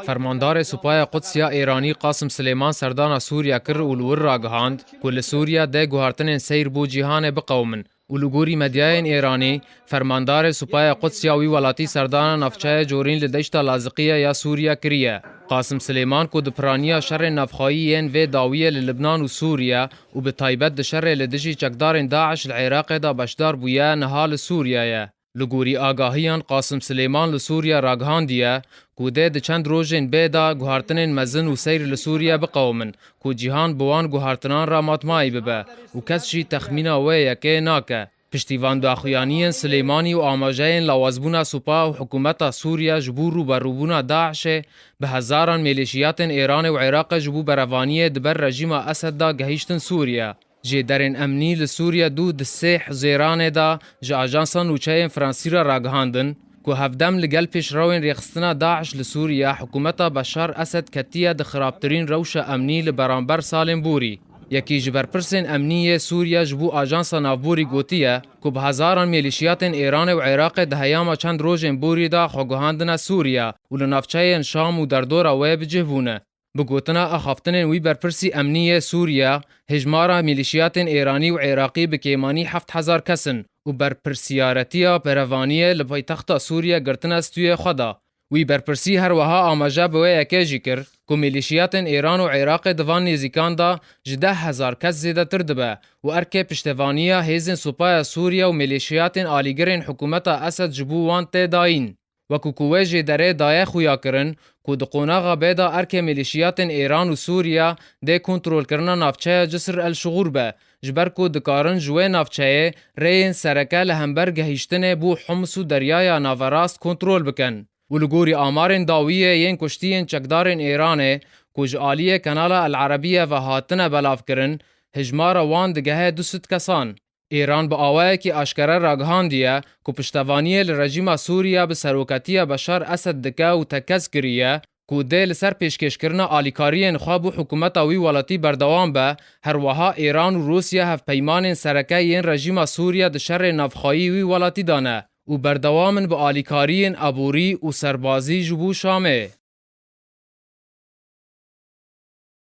Fermandarê Supaya Quds ya Êranî Qasim Silêman serdana Sûriye kir û li wir ragihand ku li Sûriye deh guhartinên seyr bo cîhanê biqewimin û li gorî medyayên Êranî Fermandarê Supaya Quds ya wî welatî serdana navçeyê Corîn li deşta Laziqîye ya Sûriye kiriye. Qasim Silêman ku di piraniya şerên navxweyî yên vê dawiyê li Libnan û Sûriye û bi taybet di şerê li dijî çekdarên DAIŞ li Iraqê de beşdar bûye niha li Sûriyeyê. Li gorî agahiyan Qasim Silêman li Sûriye ragihandiye ku dê di çend rojên bê de guhartinên mezin û seyr li Sûriye biqewimin ku cîhan bi wan guhartinan re matmayî bibe û kes jî texmîna wê yekê nake. Piştî van daxuyaniyên Silêmanî û amajeyên lawazbûna supa û hikûmeta Sûriye ji bo rûberûbûna DAIŞ'ê, bi hezaran mêlîşiyatên Êranê û Iraqê ji bo berevaniyê di ber rejîma Esed de gehîştin Sûriye. Jêderên emnî li Sûriye du di sê huzêranê de ji ajansa nûçeyên Fransî re ragihandin, Ku hevdem li gel pêşrewên rêxistina DAIŞ li Sûriye, hikûmeta Beşar Esed ketiye di xirabtirîn rewşa emnî li beramber salên borî. Yekî ji berpirsên emnî yê Sûriye ji bo Ajansa Navborî gotiye ku bi hezaran mêlîşiyatên Êranê û Êraqê di heyama çend rojên borî de xwe guhandine Sûriye û li navçeyên Şam û derdora wê bi cih bûne. Bi gotina axaftinên wî berpirsî emnî yê Sûriye, hejmara mîlîşiyatên Êranî û Êraqî bi kêmanî heft hezar kes in û berpirsiyaretiya berevaniyê li paytexta Sûriye girtine stûyê xwe de. Wî berpirsî her wiha amaje bi wê yekê jî kir ku mîlîşiyatên Êran û Êraqê di van nêzîkan de ji deh hezar kes zêdetir dibe û erkê piştevaniya hêzên Supaya Sûriye û mîlîşiyatên alîgirên hikûmeta Esed ji bo wan tê dayîn. Wekû ku wê jê derê daye xuya kirin ku di qonaxa bê de erkê milîşiyatên Îran û Sûriye dê kontrolkirina navçeya Cisr el Şugur be, ji ber ku dikarin ji wê navçeyê rêyên sereke li hember gehîştinê bo Homs û Deryaya Naverast kontrol bikin. Û li gorî amarên dawiyê yên kuştiyên çekdarên Îranê ku ji aliyê Kanala El Arabiye ve hatine belavkirin, hijmara wan digehe du sed kesan. Îran bi awayekî aşkere ragihandiye ku piştevaniyê li rejîma Sûrî ya bi seroketiya Beşar Esed dike û tekez kiriye ku dê li ser pêşkêşkirina alîkariyên xwe bo hikûmeta wî welatî berdewam be, herweha Îran û Rûsya hevpeymanên sereke yên rejîma Sûrî di şerê navxweyî wî welatî de ne û berdewam in bi alîkariyên aborî û serbazî ji bo Şamê.